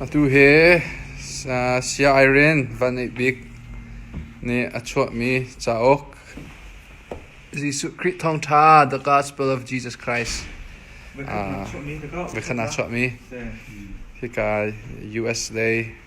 Atu hi Sia'iren van ngeih bik nih a chuahmi cauk Jesuh Khrih Thawngṭha The Gospel of Jesus Christ ah vekhat naa chuahmi hika US lei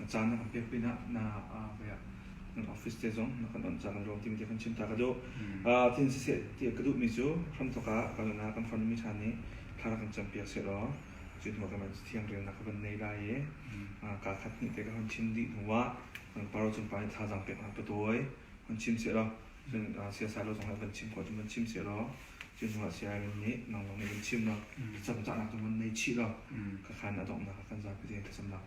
a caan na kan pek pinah na kan office te zong na kan on caan na ruang ting ti kan chim ta ka duh tin siseh ti ka duhmi cu hramthok ah kan na kan farmi ṭhan nih thla kan campi a si ro cu hnu kan man thiang ril na ka van nei lai i ka khat ni te ka hon chim dih hnu ah paro cung pa nih thazang pek na ka tuai hon chim se ro siasai lo zong ah kan chim ko cu man chim se ro cu hnu ah siai min nih nang long nih kan chim ro cam cahnak tu man nei chih ro ka khan adok na kan zapi te ka samnak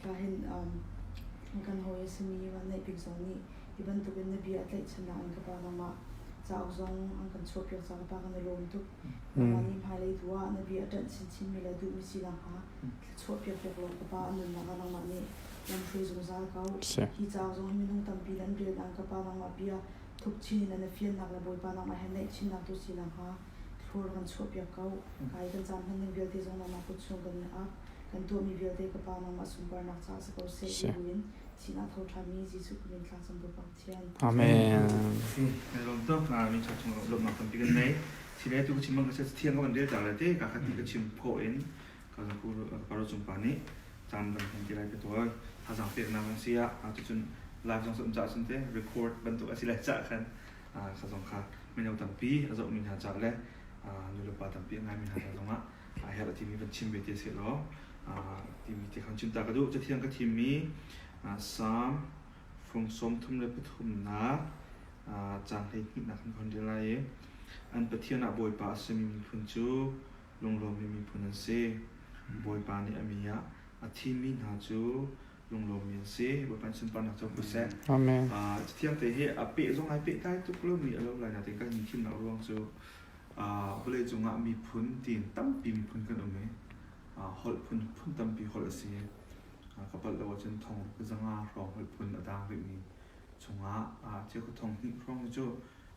Tahin um kan hawi a simi Van Neih Bik zong nih hi bantukin na bia a tlaihchan ah an ka pa nangmah cauk zong an kan chuahpiak cang ka pa kan i lawm tuk nangmah nih hmailei tu ah na bia a ṭanh chinchinmi le duhmi sinak hna chuahpiak piak law ka pa an nunnak ah nangmah nih lamhruai zungzal ko hi cauk zong hi minung tampi an rel ang ka pa nangmah bia thuk chin in na fiannak le bawipa nangmah he naih chinnak tu sinak hnga Floor kan chuahpiak ko. Kai kan caan hman ning vialte zong mama kut chung kan i ak. Kan tuahmi vialte ka pa mama sunparnak caah si ko seh ti buin sinah tho ṭhami Jesuh Khrih in tlakcamtu Pathian. Amen. Kan lawm tuk mi ṭha chung lawmnak tampi kan nei. Silei tu ka chim bang ka thiang ka van rel cang le te ka khat ni ka chim phaw in ka zang ku paro cung pa nih caan kan hman ti lai ka tuai. Hazang pek na kan sia a tu cun live zong som ca cun te record bantuk a si lai ca khan sa zong kha mino tampi a zohmi hna ca le nulepa tampi a ngaimi hna ca zongah a herh a timi van chim ve ti a si law timi ti khan cinta ka duh cathiang ka thimmi Psalm from sawm thum le pathumnak caan hleihnihnak kan khon ril lai i an pathian ah bawipa a simi miphun cu lunglawmmi miphun an si bawipa nih a mi ah a thimi hna cu lunglawmmi an si Bapan sunparnak co ko seh Amen. Uh, thiam te hi a peh zong ai peh dai tuk lo mi a lo lai na te kan ni thim na ruang cu uh, vawlei cungah miphun tin tampi miphun kan um i uh, holh phun phun tampi holh a si uh, kapal lo cun thong zanga hrawng holh phun a dang rih mi chungah uh, thia ku thong hnih hrawng cu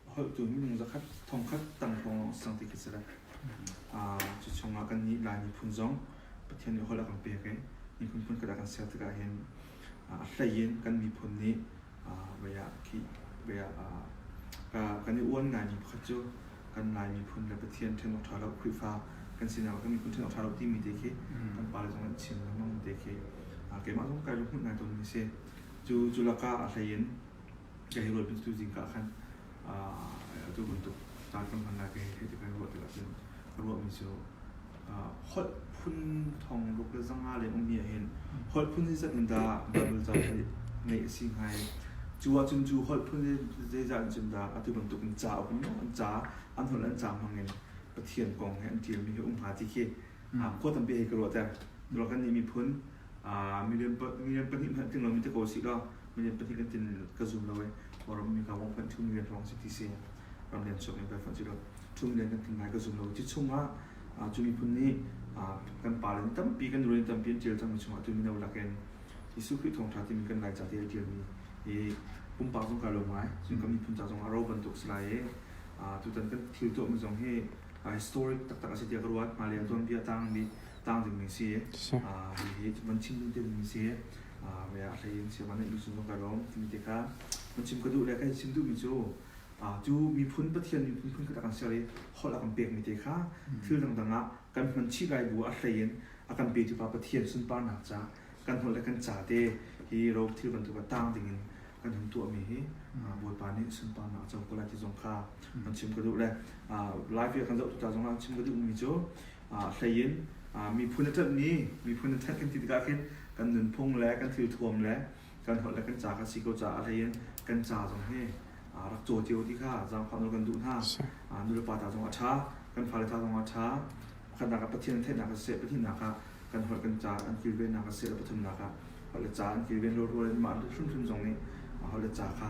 A holhtu minung zakhat thongkhat tam hrawng sang ti khi si lai. Cu chungah kan nih Lai miphun zong Pathian nih holh a kan pek i miphun phun kada kan ser tikah hin a hleiin kan miphun nih kan i uan ngaimi pakhat cu kan Lai miphun le Pathian ṭhenawk ṭha lo Khrihfa kan sinak ah kan miphun ṭhenawk ṭha lo timi te khi kan pale zong nih chim lengmang mi te khi keimah zong kai ruahmut ngai tawnmi a si. Cu lakah a hleiin ka hi rual pin tu zing ka khan atu bantuk caan kam hman lai ka hi thei ka ruah tik ahcun ka ruah mi cu holh phun thong ruk le zanga leng um mi ahhin holh phun zeizat in dah bible ca hi ngeih a si hngai cu ahcun cu holh phun zeizat in cun dah atu bantuk in ca a um an ca an holh an ca hmang in pathian kong he an tial mi hi um hnga ti khi khua tampi hei ka ruah te dura kan nih miphun milian pahnih hmanh ting lo mi te ko si lo milian pahnih kan tin ka zoom lo e ram mi ka wong phanh thum milian thong si ti si ram lian sok mi ka phanh si lo thum lian kan tin lai ka zoom lo ti chungah cu miphun nih kan pa le tampi kan ruen tampi an tial cang mi chungah tu mino lakin Jesuh Khrih thawngtha ti mi kan lai ca ti tial mi i pumpak zong ka lo ngai sun kan miphun ca zong a ro bantuk si lai i tutan kan thil to mi zong hi historic taktak a si tiah ka ruat. Mah leng tuanbia tangmi tang dingmi si. Hihi van chim ding dingmi si. Maya hlei in si van in sung ka rom timi te kha. Ma chim ka duh le ka chim duhmi cu tu miphun pathian miphun phun kata kan ser i holh a kan pekmi te kha thil dangdang ah kan hman chih lai bu a hlei in a kan petu pa pathian sunparnak ca kan holh le kan ca te hi ro thil bantuk a tang ding in kan hun tuahmi hi bawipa nih sunparnak a co ko lai ti zong kha an chim ka duh le live kan zoh tuta zong an chim ka duhmi cu hlei in miphun a ṭanhmi miphun a ṭhat kan ti tikah khin kan nunphung le kan thil thuam le kan holh le kan ca kha si ko caah hlei in kan ca zong hi rak caw cio ti kha zaangfah nul kan duh hna nulepa ta zong a ṭha kan fale ta zong a ṭha pakhatnak ah pathian theihnak a si pathiannak ah kan holh kan ca an kilvennak a si le pathumnak ah holh le ca an kilven rual in mah hrimhrim zong nih holh le ca kha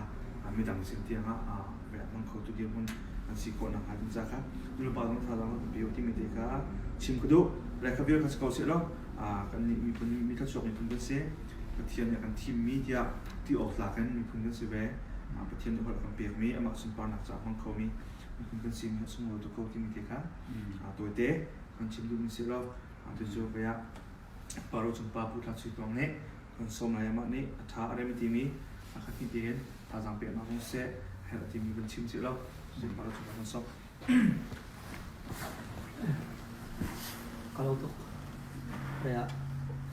midang sin tiang ah rian hmang khotu dirhmun an si khawh nakhnga ding ca kha nupa zong thazang an peo timi te kha chim ka duh lekhaviar kha si ko seh law kan nih miphun mi thluachuak miphun kan si pathian nih kan thimmi tiah ti awk tlak in miphun kan si ve pathian nih holh kan pekmi amah sunparnak ca hmang khomi miphun kan si mi sunglawi tuk ko timi te kha tawite kan chim duhmi si lo Cucu kaya Paro chungpa Pu Thak Sui Pawng nih kan sawm lai amah nih a tha a rem timi a khat ni tein tazang pe ma hong se herh timi kan chim chih lo. Paro chungpa kan sawm. Kalau tuk kaya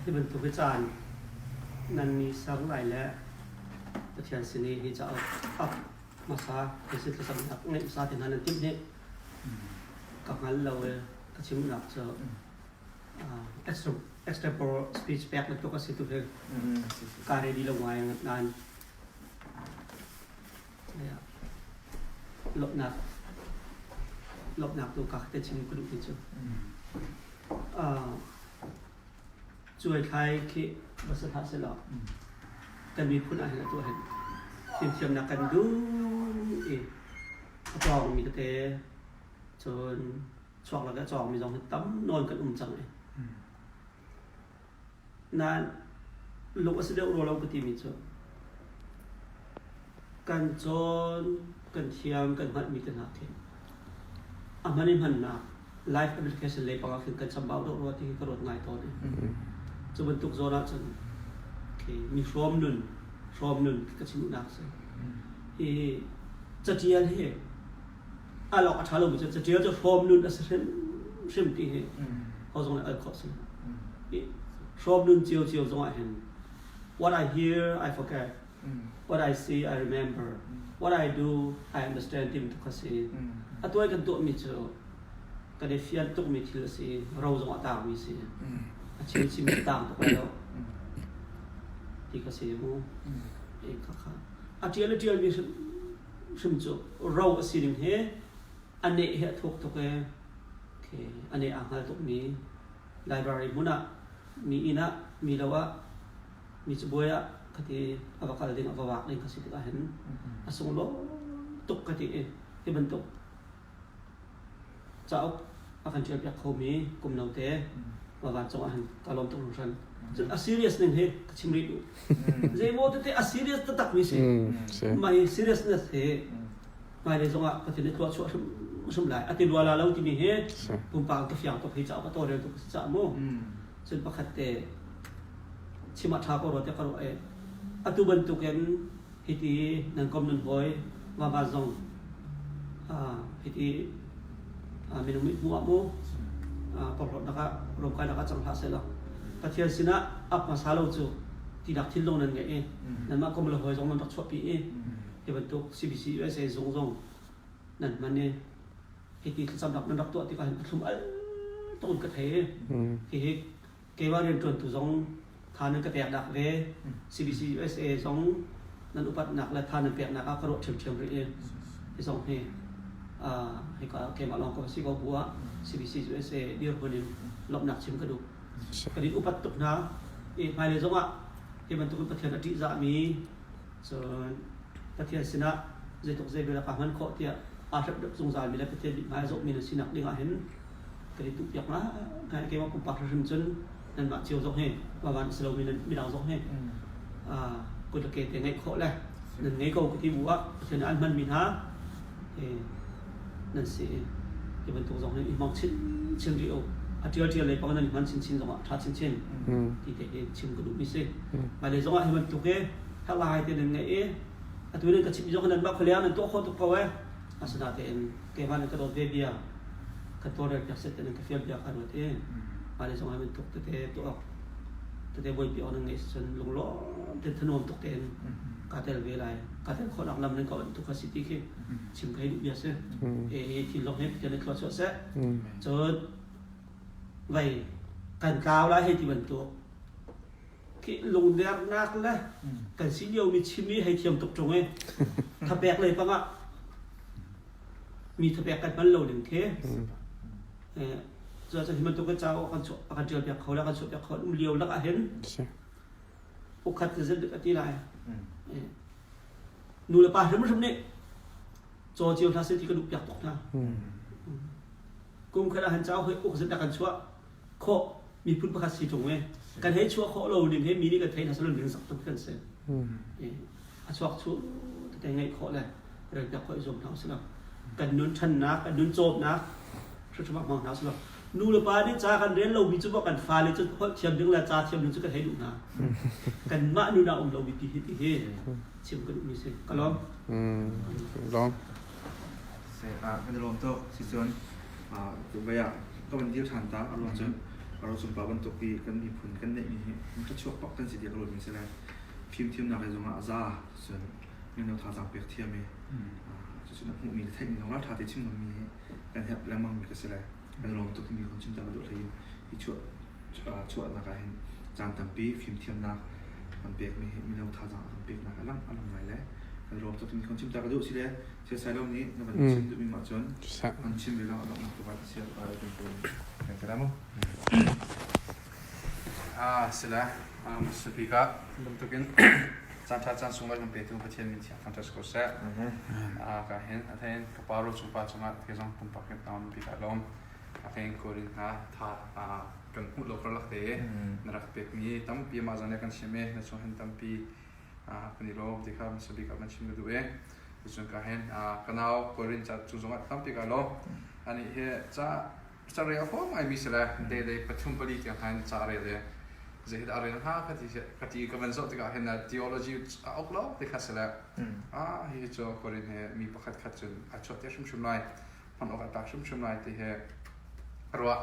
hi bantuk hi caan nan mi sang lai le Pathian sini hi cha up masa kasi tlasam nak ngai masa te nan tim ni ka ngal lo e a chimnak cu Estepor speech pek na tuk a si tu hi ka ready lo ngai nan lopnak lopnak tu ka te chim ku ni chu chuai thai khi basa tha se lo kan mi phun ah hin tu hin thiam thiam na kan du i a tawng mi te cun chuak le ka cawngmi zong hi tam nawn kan um cang i nain lung a si deuh rua lo ka timi cu kan cawn kan thiam kan hngalhmi te hna khi a hman i hmannak live application lei panga khin kan chambau deuh rua ti hi ka ruat ngai tawn i cu bantuk zawn ah cun khi mi hrawm nun hrawm nun ka chimnak si hi catial hi al awk a ṭha lomi cu caṭial cu hrawm nun a si hrimhrim ti hi ho zong nih al khawh si. Hrawm nun cio cio zongah hin what I hear I forget, what I see I remember, what I do I understand tim tuk a si. A tuai kan tuahmi cu kan i fian tukmi thil a si, ro zong a tangmi si, a thil chim a tang tuk lai lo ti ka si mu. Ka kha. A ṭial a ṭialmi hrim cu ro a si ding hi a neh hi a thuk tuk e okay, a neh aa hngal tuk mi library hmun ah mi inn ah mi lo ah mi cabuai ah khati a va kal ding a va wak ding ka si tik ahhin a sunglaw tuk ka ti i hi bantuk cauk a kan ṭialpiak khomi kum note va van cungah han ka lawm tuk hringhran. Cun a serious ning hi ka chim rih duh. Zeimaw tete a serious taktakmi si. Mei seriousness hi hmailei zongah Pathian nih tuah chuah hrim lai. A ti luala lo timi hi pumpak ka fiang tuk hi cauk a tawrel tuk si cah mu. Cun pakhat te chim a ṭha ko rua te ka ruah i atu bantukin Hiti nan kom nan hawi ngaba zong hiti minung mit mu ah mu porhlawt nakah romkai nakah cang hlah sela Pathian sinah ap hmasa lo cu tinak thinlung nan ngeih i nanmah kom le hawi zong nan rak chuahpi i ti bantuk CBC USA zung zong nan hman i hiti thlacamnak nan rak tuah tikah hin pathlum al tuk ka thei i hihi keimah rianṭuantu zong tha nan ka peknak ve CBC USA zong nan upatnak le tha nan peknak ah ka ruah ṭhiamṭhiam rih i hi zong hi hika keimah lawng ka va si ko bu ah CBC USA dirhmun in lawmhnak chim ka duh ka din upat tuk hna i hmailei zong ah hi bantuk in Pathian a ṭihzahmi cun Pathian sinah zeitluk zeivel ah kaa hman khawh tiah aa hrep zungzalmi le Pathian mit hmai a zohmi na sinak ding ah hin kan i tuhpiak la kan keimah pumpak hrim cun nanmah cio zong hi pavan si lomi midang zong hi kut le ke te ngeih khawh le nan ngei ko ka ti bu ah Pathian an hmanmi hna nan si ke bantuk zong hi i mong chin chin rih o a tial tial lei pang nan i hman chin chin zong ah tha chin chin ti te ke chim ka duh mi si mai le zong ah hi bantuk e thak la hai te nan ngei i atu nan ka chim zong nan ba kholiang nan to kho tuk ko e asada te en kevan ka dawt ve bia ka to rel piak set ten ka fial bia kha ruat e ale song amen tuk te te to ok te te boi pi on ngai sen lung lo te thanom tuk ten ka tel ve lai ka tel kho lang lam ne ko tu ka city khi chim kai du bia se e he thi lo he te ne tlo cho se chon vai kan kaw la he ti ban to lungdernak le kan si liomi chimmi hei thiam tuk chung i thapek lei pang ah mi thapek kan hman lo ding khi cu cu hi bantuk ka cawo kan kan tial piak kho le kan chuah piak kho um lio lak ah hin ukhat ka zet ka ti lai nu le pa hrim hrim nih caw cio hla sel ti ka duh piak tuk hna kum khat ah han cawo hoi uk zet da kan chuah khawh miphun pakhat si ṭung e kan hei chuah khawh lo ning he mi nih kan thei hna salon ding sak tuk kan se a chuak chu te ngeih khawh le rel piak khawh zuam hna usilo kan nun ṭhannak kan nun cawpnak hruṭhum hmang hna usilo nu le pa nih ca kan rel lo mi cu ba kan fale cu kholh thiam ding le ca thiam ding cu kan hei duh hna kan mah nun a um lo mi ti hi ti hi chim kan um ni si ka lawm ka lawm ah kan i lawm tuk sicun dubai ah ka van dir ṭhan ta a ruang cun a ro cumpa bantuk i kan miphun kan neihmi hi ka chuak bak kan si ti a ka ruatmi a si lai fimthiamnak i zongah a za cun mino thazaang pek thiam i cucu na hmuhmi le theihmi zongah ṭha te chim ngammi hi kan herh lengmangmi ka si lai a lawm tukmi kong chim tam a duh hlei in hi chuahnak ah hin caan tampi fimthiamnak kan pekmi hi mino thazaang a kan peknak a lang a lang ngai le kan lawm tukmi kong chim tak a duh si le thil sailo nih na van chim duhmi nih cun kan chim ve lang a lawmnak ruat a si a kan pawm kan ka damo ah sila speaker bantuk in caan tha caan sung kan pe tu pathian min thiang fantastic ko seh a ka hin a thain pa ro cu pa cungah thil zong pumpak hiap na um ti kha lawm a ka in kuarin hna tha kan hmuh lo kar lak te na rak pek mi tampi ma zan kan chim e na chung hen tampi kan i lom ti kha masa bik kan chim ka du e tu chung ka hen kanau kuarin cha cu zong tampi ka lom ani he cha Carel a huam ngaimi si le dehdei pathum pali tiang khan ca a rel i zeidah a rel hnga ka ti, ka ti ka van zoh tikah hin theology a uk lo ti kha si le ah hi cu Korin he mi pakhat khat cun a chuat te hrimhrim lai hman awk a tak hrimhrim lai ti he ruah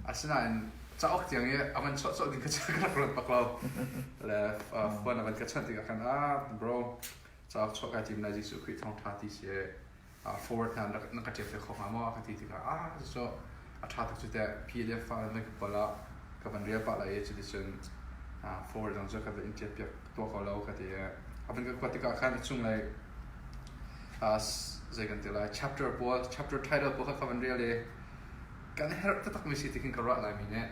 asinain cauk tiang i a van chawh chawh ding ka ka rak ruat bak lo le khuan a van ka chanh tikah khan ah bro cauk chuah kai tim lai Jesuh Khrih thawngtha ti si forward hna na ka ṭiak ve kho hnga maw ka ti tikah ah cucu a ṭha tuk cu teh PDF fa nan ka pal ah ka van rial pah lai i cuticun forward zong cu ka van in ṭiak piak tuah ko lo ka ti i a van ka kuat tikah khan a cunglei zei kan ti lai chapter pawl chapter title pawl kha ka van rial i kan herh taktakmi si tikin ka ruah laimi nih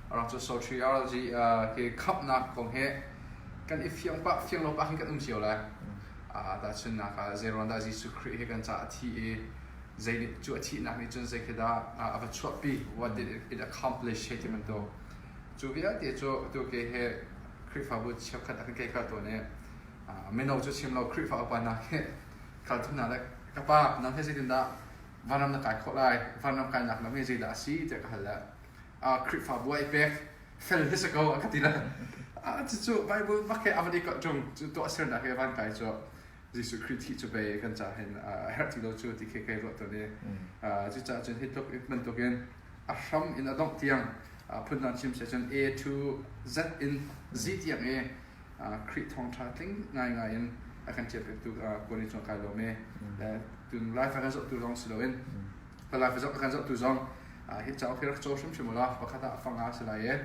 a rak cu soteriology uh, ke khamnak kong he kan i fiang pak fiang lo pak hin kan um cio lai uh, tahchun nak ah zeiron dah Jesuh Christ he kan ca a thi i zei nih cu a thihnak nih cun zei khi dah uh, a va chuahpi what did it, it accomplish he timan to cu vialte cu tu ke he Khrihfabu cheukhat akan kai kha to ne uh, meno cu chim lo Khrihfa upa na he khalthu na le ka pa nan he zeitin dah vanram na kai khawh lai vanram kainak lam hi zeidah a si tiah ka hal le ah Khrihfabu ah i pek fel hi si ko a ka ti le ah cucu Bible mah ke a van i kawh chung cu tuah sernak he van kai cu Jesuh Khrih thi cu bei kan ca hen a herh ti lo cu ti ke kai ruah to ne cu ca cun hi tluk man tuk in a hram in a dongh tiang phun nan chim se cun A to Z in Z tiang e Khrih thawngṭha tling ngaingai in a kan ṭialpiaktu Koni cu kai lawm i tun life a kan zohtu zong si loin ka life a kan zohtu zong hi cauk hi rak caw hrimhrim u law pakhat ah fang a si lai i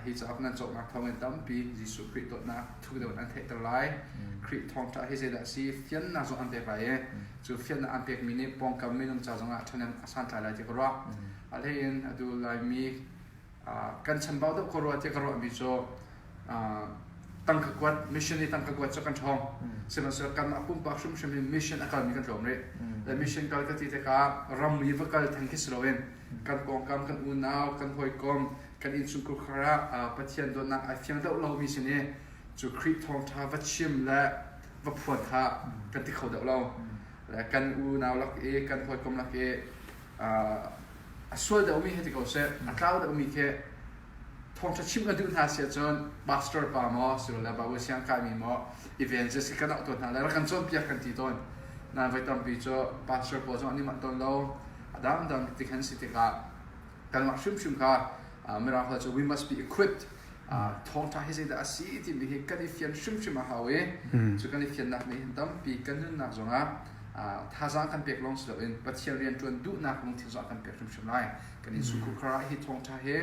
hi cauk nan cawknak thawngin tampi Jesuh Khrih dawtnak thu deuh in an theihter lai Khrih thawngṭha hi zeidah a si fiannak zong an pek lai i cu fiannak an pekmi nih pawngkam minung ca zongah ṭhahnem a santlai lai ti ka ruah a hleiin a dul laimi kan chanbau deuh ko rua tiah ka ruahmi cu tangka kuat mission i tangka kuat cu kan ṭhawng sihmanhsehlaw kam a pumpak hrimhrim in mission a kalmi kan tlawm rih le mission kal ka ti tikah ramri va kal theng khi si loin kan pawngkam kan unau kan hawikom kan innchungkhar ah Pathian dawtnak ai fiang deuh lomi sin i cu Khrih thawngṭha va chim le va phuan kha kan ti kho deuh lo le kan unau lak i kan hawikom lak i a sual deuhmi hi ti ko seh, a tlau deuhmi khi thawngṭha chim ka duh hna si ahcun pastor pa maw sirole babu siang kaimi maw evangelist kan auh tawn hna lai rak kan cawnpiak kan ti tawn na voi tampi cu pastor pawl zong an i mah tawn lo a dangdang ti kan si tikah kanmah hrimhrim kha mirang hal cu we must be equipped thawngṭha hi zeidah a si timi hi kan i fian hrimhrim a hau i cu kan i fiannak nih hin tampi kan nunnak zongah thazaang kan pek lawng si loin Pathian rianṭuan duhnak lungthin zong a kan pek hrimhrim lai kan innchungkhar kar ah hi thawngṭha hi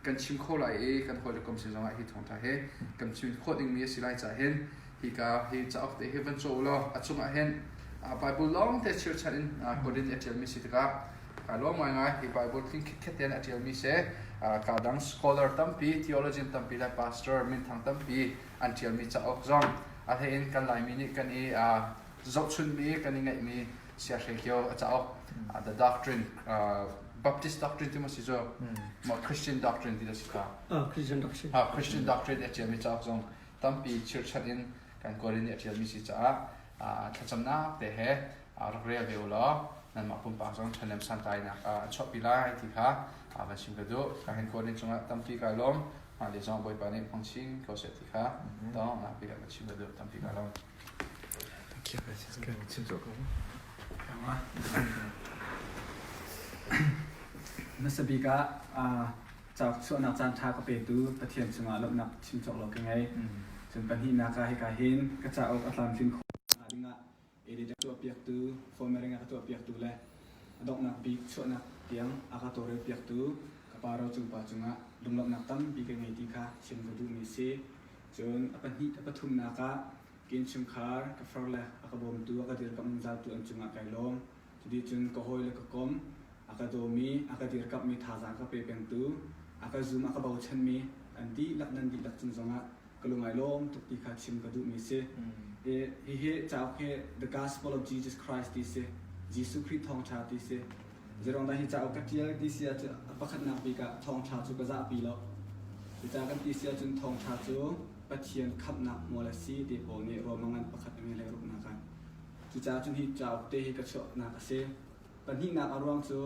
kan chim kho lai i kan hawi le kom sin zongah hi thawngṭha hi kan chim khawh dingmi a si lai caah hin hika hi cauk te hi van caw u law a chungah hin Baibal lawngte chirchan in Korin i a ṭialmi si tikah a luang ngaingai hi Bible tling khitkhet tein a ṭialmi si ka dang scholar tampi theologian tampi le pastor minthang tampi an ṭialmi cauk zong a hleiin kan Laimi nih kan i zohchunhmi kan i ngeihmi siahre cio a cauk the doctrine Baptist doctrine ti maw si cu maw Christian doctrine ti si ka Christian doctrine Christian doctrine a ṭialmi cauk zong tampi chirchanh in kan kual in a ṭialmi si caah thlacamnak te he rak rel ve u law nanmah pumpak zong ṭhahnem santainak a chuahpi lai ti kha van chim ka duh ka hen kaw nih cungah tampi ka lawm mah le zong bawipa nih hmangchin ko seh ti kha dong napi ka chim ka duh tampi ka lawm nasa bik ah cauk chuahnak caan ṭha ka petu pathian cungah lawmhnak chim cawk lo ka ngei cun pahnihnak ah hika hin ka cauk a tlamtlin khawh edit a tuahpiaktu, formatting a ka tuahpiaktu le a donghnak bik chuahnak tiang a ka tawlrelpiaktu ka pa ro cung pa cungah lunglawmhnak tampi ka ngei ti kha chim ka duhmi si. Cun a pahnih a pathumnak ah kin chungkhar ka far le a ka bawmtu a ka dirkamh zautu an cungah kai lawm. Cuti cun ka hawile ka komh, a ka dawmi, a ka dirkamhmi thazaang ka pe pengtu, a ka zum a ka bochanmi an dihlak nan dihlak cung zongah ka lungai lawm tuk ti kha chim ka duhmi si. I hihi cauk hi The Gospel of Jesus Christ ti si, Jesuh Khrih thawngṭha ti si. Zeiruangdah hi cauk ka ṭial ti si ahcun pakhatnak bik ah thawngṭha cu ka zahpi lo. Cucaah kan ti si ahcun thawngṭha cu Pathian khamhnak hmual a si ti pawl nih ruamang in pakhat in an hei ruahnak a Cucaah cu hi cauk te hi ka chuahnak a si. Pahnihnak a ruang cu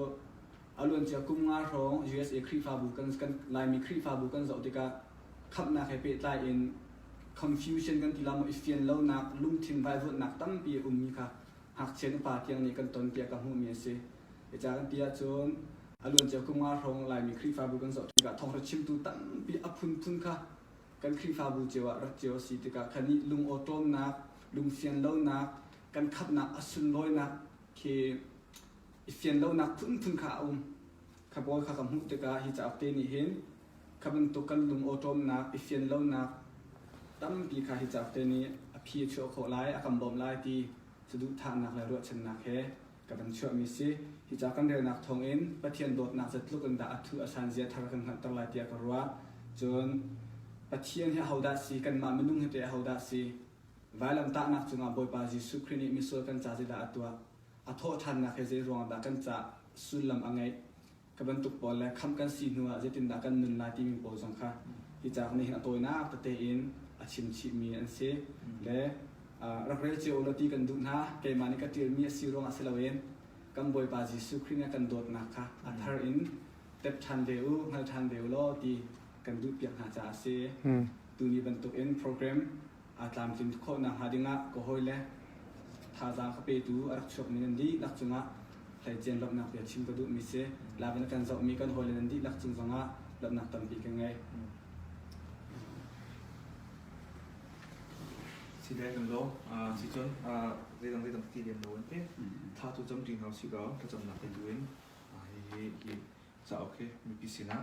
a luancia kum nga hrawng usa Khrihfabu kan kan Laimi Khrihfabu kan zoh tikah khamhnak he pehtlai in confusion kan ti lawmh i fian lonak lungthin vaivuanhnak tampi a ummi kha ngakchia nupa tiang nih kan ton tiah ka hmuhmi a si. Hi ca kan ti ahcun a luancia kum nga hrawng Laimi Khrihfabu kan zoh tikah thawngṭha chimtu tampi a phunphun kha kan Khrihfabu cio ah rat cio a si tikah kha nih lungawṭawmnak, lungfian lonak, kan khatnak a sunlawinak khi i fian lonak phunphun kha a um. Kha pawl kha ka hmuh tikah hi cauk te nih hin kha bantuk kan lungawṭawmnak i fian lonak tampi kha hi cauk te nih a phi a chuah khawh lai, a kan bawmh lai ti saduhthahnak le ruahchannak he ka van chuahmi si. Hi ca kan relnak thawngin Pathian dawtnak zat tluk in dah a thuh a hlanzia thar kan hngalhter lai tiah ka ruah. Cun Pathian hi ahodah si? Kanmah minung hi teh ahodah si? Vailamtahnak cungah Bawipa Jesuh Khrih nih misual kan ca zeidah a tuah? A thawhthannak he zeiruangah dah kan ca sullam a ngeih? Ka bantuk pawl le khamh kan si hnu ah zeitindah kan nun lai timi pawl zong kha hi cauk nih hin a tawinak tete in a chimchihmi an si. Le rak rel cio ulaw ti kan duh hna. Keimah nih ka ṭialmi a si ruangah si loin kan Bawipa Jesuh Khrih nih a kan dawtnak kha a thar in tep ṭhan ve u, hngal ṭhan ve u law ti kan duhpiak hna caah a si. Tuni bantukin program aa tlamtlin khawhnak hnga dingah ka hawi le thazaang ka petu a rak chuakmi nan dihlak cungah hleician lawmhnak bia chim ka duhmi si. Lakin kan zohmi kan hawi le nan dihlak cung zongah lawmhnak tampi ka ngei. Si dai kan lo si cun zeidang zeidang ka ti lem lo an ti tha tu cam ṭing hau si ko ka camnak te tu in hihi hi ca ok mipi sinah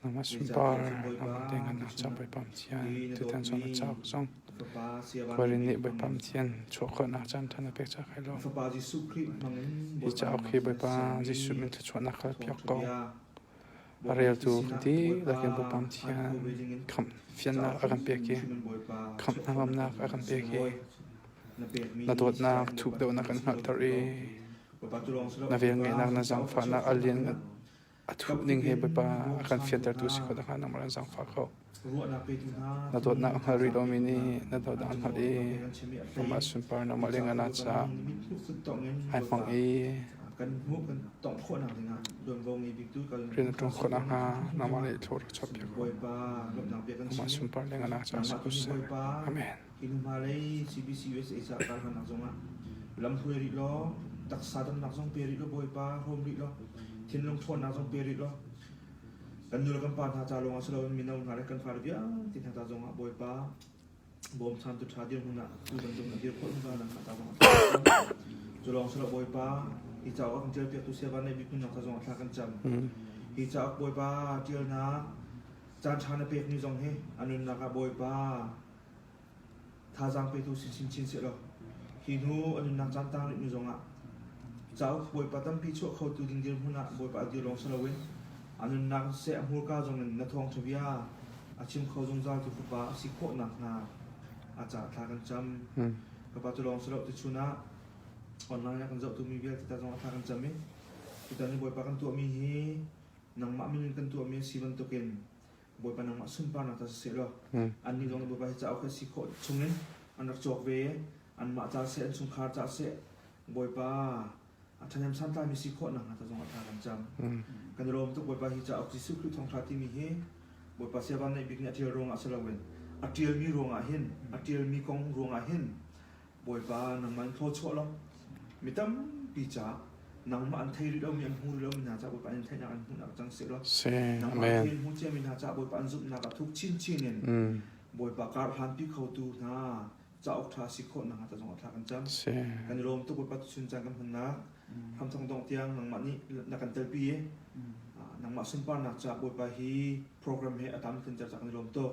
Amah sunpar amah dengah na cang Bawipa Pathian tutan cun na cauk zong khualin nih Bawipa Pathian chuah khawhnak caan than na pek cak hai lo. Hi cauk hi Bawipa Jesuh min thluachuahnak hal piak ko. A reltu kan ti lakin Bawipa Pathian khamh fiannak a kan pek i khamh hnangamnak a kan pek i na dawtnak thuk deuhnak kan hngalhter i na velngeihnak na zaangfahnak a lian A thuap ning he Bawipa a kan fiantertu si khawh nakhnga nangmah an zangfah ko. Na dawtnak a hngal rih lomi nih na dawtnak an hngalh i nangmah sunpar nangmah le ngana ca ai hmang i rian na ṭuan khawh nakhnga nangmah le i thlawh rak chuahpiak ko. Nangmah sunpar le ngana ca si ko seh. Amen. Inn hngalei CBC USA ca kar hmannak zongah lam hruai rih law, taksa damnak zong pe rih law Bawipa hrawm rih law, thinlung ṭhawnnak zong pe rih law, kan nu le kan pa hna ca lawngah si loin mino hna le kan fale vialte hna ca zongah Bawipa bawm thamtu ṭha dirhmun ah tu bantuk na dir khawh zungzal nan hna ca zongah cu lawng si lo Bawipa hi cauk a kan ṭialpiaktu siava neih bik hmunhnak ca zongah thla kan cam hi cauk Bawipa ṭialnak caan ṭha na pekmi zong hi a nunnak ah Bawipa Thazaang petu sinchin chin sehlaw, hi hnu a nunnak caantang rih nu zongah cauk bawipa tampi chuah khotu ding dirhmun ah bawipa dir lawng si loin a nunnak seh a hmurka zongin na thawng ṭhavia a chim kho zungzal tu fapa a si khawh nakhnga a ca thla kan cam. Ka pa tu lawng si lo tu chun ah online ah kan zohtu mi vialte ta zong a thla kan cam i tutan i bawipa kan tuahmi hi nangmah min in kan tuahmi a si bantukin Bawipa nangmah sunparnak ta siseh law annih zong Bawipa hi cauk hi si khawh chungin an rak cawk ve i anmah ca seh an chungkhar ca seh Bawipa a ṭhahnem santlaimi si khawh nakhnga ta zong a tha kan cang. Kan i lawm tuk Bawipa hi cauk Jesuh Khrih thawngṭha timi hi Bawipa sia vanneih bik nih a ṭial ruangah si loin a ṭialmi ruangah hin a ṭialmi kong ruangah hin Bawipa nang man thlaw chuah lo mi tampi ca nangmah an thei rih lomi an hmu rih lomi hna ca Bawipa an theihnak an hmuhnak cang si lo nangmah thei hmu ciami hna ca Bawipa an zumhnak a thuk chinchin in Bawipa kar hlanpi khotu hna cauk ṭha si khawh nakhnga ta zong a tha kan cam kan i lawm tuk Bawipa tuchun caan kan hmannak hramthong dong tiang nangmah nih na kan telpi i nangmah sunparnak ca Bawipa hi program he a tam tlinter ca kan i lawm tuk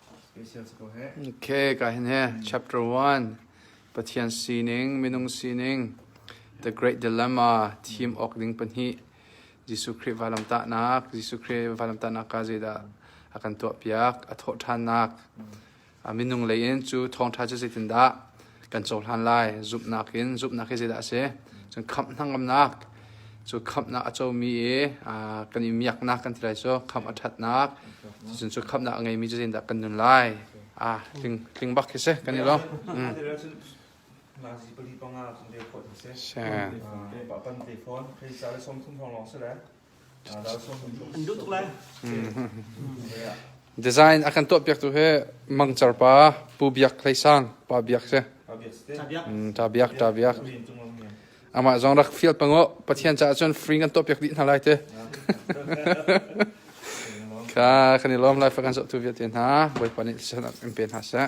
Okay, ka hin he chapter 1 Pathian sining, minung sining, the great dilemma, thim ok ding pahnih Jesuh Khrih valamtahnak, Jesuh Khrih valamtahnak ka zeidah a kan tuah piak, a thawh ṭhannak, a minung lei in cu thawngṭha cu zeitindah kan cohlan lai. Zumhnak in zumhnak hi zeidah a si? Cun khamh hnangamnak cu khamhnak a comi i kan i miaknak kan ti lai cu khamh a ṭhatnak cun cu khamhnak a ngeimi cu zeitindah kan nun lai a tling tling bak khi si kan i lawm pali panga kan te phot si pa pan te phone kai sa le som thum thong long si le Design a kan tuahpiaktu hi mangcar pa Pu Biak Hlei Sang pa Biak si. Ta Biak ta Biak. Amah zong rak field pango Pathian caah cun free kan tuahpiak dih hna lai te. Ka kan i lom lai fa kan so tu vialte hna Bawipa nih san in pe hna seh.